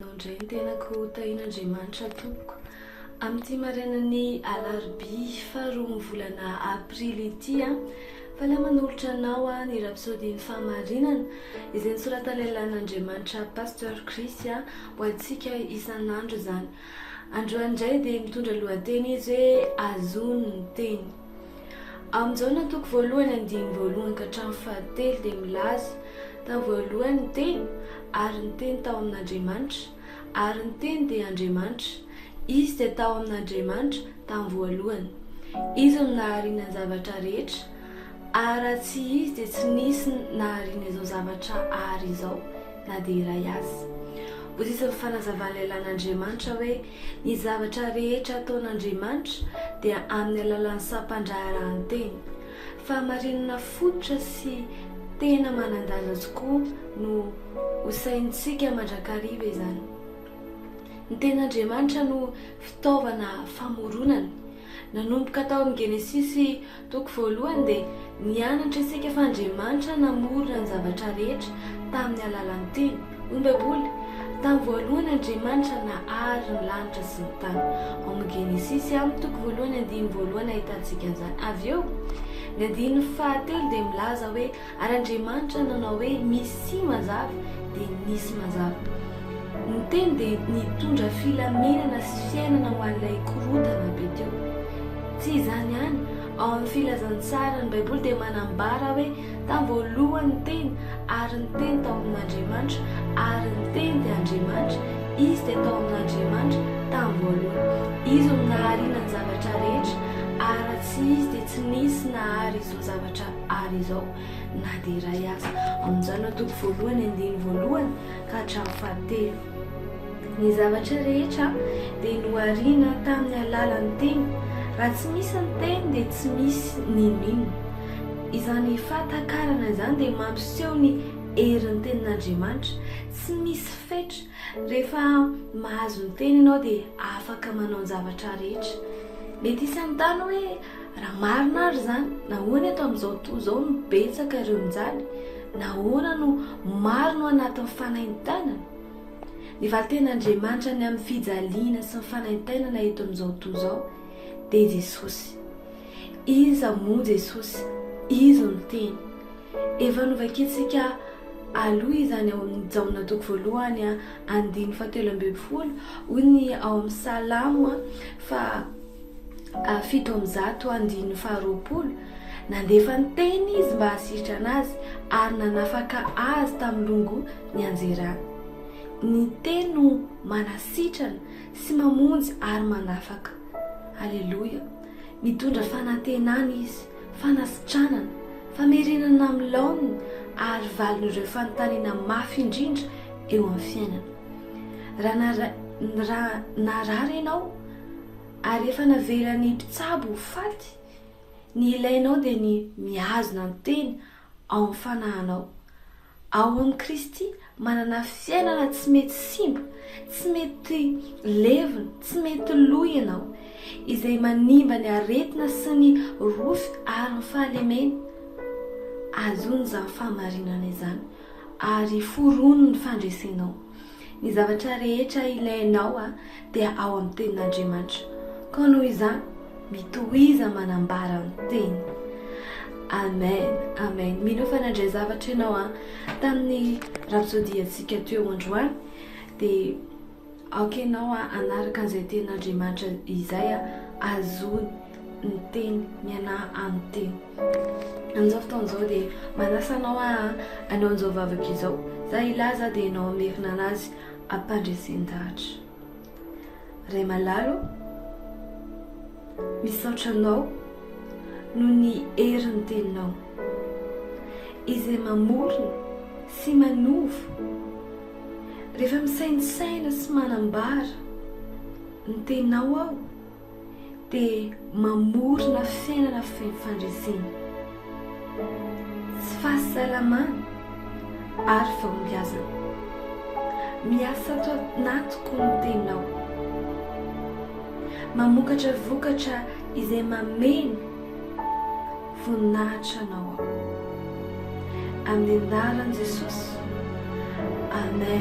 Mandray ny tenako ho tahin'Andriamanitra tompoko. Amin'ity marainan'ny alarobia faha roa ny volana aprily ity aho mpanao manolotra anao ny rapsodian'ny fahamarinana izay nosoratan'ilay lahin'Andriamanitra Pasteur Chris ho antsika isan'andro izany. Androany indray dia mitondra lohateny izy hoe azony ny teny. Amin'ny Jaona toko voalohany andininy voalohany ka hatramin'ny fahatelo dia milaza, Tamin'ny voalohany ny Teny, ary ny Teny tao amin'Andriamanitra, ary ny Teny dia Andriamanitra. Izy dia tao amin'Andriamanitra tamin'ny voalohany. Izy no nahariana ny zavatra rehetra, ary raha tsy Izy dia tsy nisy nahariana izao zavatra àry izao na dia iray aza. Voazizin'ny fanazavan'ilay lalan'Andriamanitra hoe, Ny zavatra rehetra ataon'Andriamanitra dia amin'ny alalan'ny sampan-draharahan-teny. Fahamarinana fototra sy tena manan-danja tokoa no hosaintsika mandrakariva izany. Ny Tenin'Andriamanitra no fitaovana famoronany. Nanomboka tao amin'ny Genesisy Toko voalohany dia nianatra isika fa Andriamanitra namorona ny zavatra rehetra tamin'ny alalan'ny Teny. Hoy ny Baiboly, Tamin'ny voalohany Andriamanitra nahary ny lanitra sy ny tany. Ao amin'ny Genesisy amin'ny toko voalohany andininy voalohany ahitantsika an'izany. Avy eo, ny andininy fahatelo dia milaza hoe Ary Andriamanitra nanao hoe, Misia mazava, dia nisy mazava. Ny Teny dia nitondra filaminana sy fiainana ho an'ilay korontana be teo. Tsy izany ihany, ao amin'ny Filazantsara, ny Baiboly dia manambara hoe, Tamin'ny voalohany ny Teny, ary ny Teny tao amin'Andriamanitra, ary ny Teny dia Andriamanitra. Izy dia tao amin'Andriamanitra tamin'ny voalohany. Izy no nahariana ny zavatra rehetra, ary raha tsy Izy dia tsy nisy nahary izao zavatra. Ary izao, na dia iray aza amin'izany no toko voalohany andininy voalohany ka hatramin'ny fahatelo. Ny zavatra rehetra dia nohariana tamin'ny alalan'ny Teny. Raha tsy misy ny Teny dia tsy misy n'inon'inona. Izany fahatakarana izany dia mampiseho ny herin'ny Tenin'Andriamanitra. Tsy misy fetra. Rehefa mahazo ny Teny ianao dia afaka manao ny zavatra rehetra. Mety hisy hanontany hoe, Raha marina ary izany, nahoana eto amin'izao tontolo izao no betsaka ireo mijaly? Nahoana no maro no anatin'ny fanaintainana? Ny valin-ten'Andriamanitra ny amin'ny fijaliana sy ny fanaintainana eto amin'izao tontolo izao dia Jesosy. Iza moa Jesosy? Izy no Teny. Efa novakiantsika aloha izany ao amin'ny Jaona toko voalohany andininy fahatelo ambin'ny folo, hoy ny ao amin'ny Salamo fa fito amby zato andininy faharoapolo, nandefa ny teny izy mba hahasitrana azy ary nanafaka azy tamin'ny longo nianjerany. Ny teny no manasitrana sy mamonjy ary manafaka. Aleloia! Mitondra fanantenana izy, fanasitranana, famerenana amin'ny laoniny ary valin'ireo fanontaniana mafy indrindra eo amin'ny fiainana. Raha narary ianao, Ary rehefa navelan'ny mpitsabo ho faty, ny ilainao dia ny mihazona ny tena ao amin'ny fanahinao. Ao amin'i Kristy, manana fiainana tsy mety simba, tsy mety levona, tsy mety lo ianao, izay manimba ny aretina sy ny rofy ary ny fahalemena. Azon'izany fahamarinana izany ary foronin'ny fandresenao. Ny zavatra rehetra ilainao dia ao amin'ny tenin'Andriamanitra. Koa noho izany, mitohiza manambara ny teny. Amen, amen. Mino fa nandray zavatra ianao tamin'ny rapsodiantsika teo androany, dia aoka ianao hanaraka an'izay tenin'Andriamanitra izay, hazoany ny teny, mianaha amin'ny teny. Amin'izao fotoana izao dia manasa anao aho hanao an'izao vavaka izao, za i lahy za dia ianao hamerina an'azy ampandresen-dahatra. Ray malala ô, misaotra anao noho ny herin'ny teninao izay mamorona sy manova rehefa misaintsaina sy manambara ny teninao aho. dia mamorona fiainana feno fandresena, tsy fahasalamana ary fahombiazana. Miasa ato anatiko ny Tenao. Mamokatra vokatra izay mameno voninahitra Anao aho. Amin'ny anaran'i Jesosy, amen.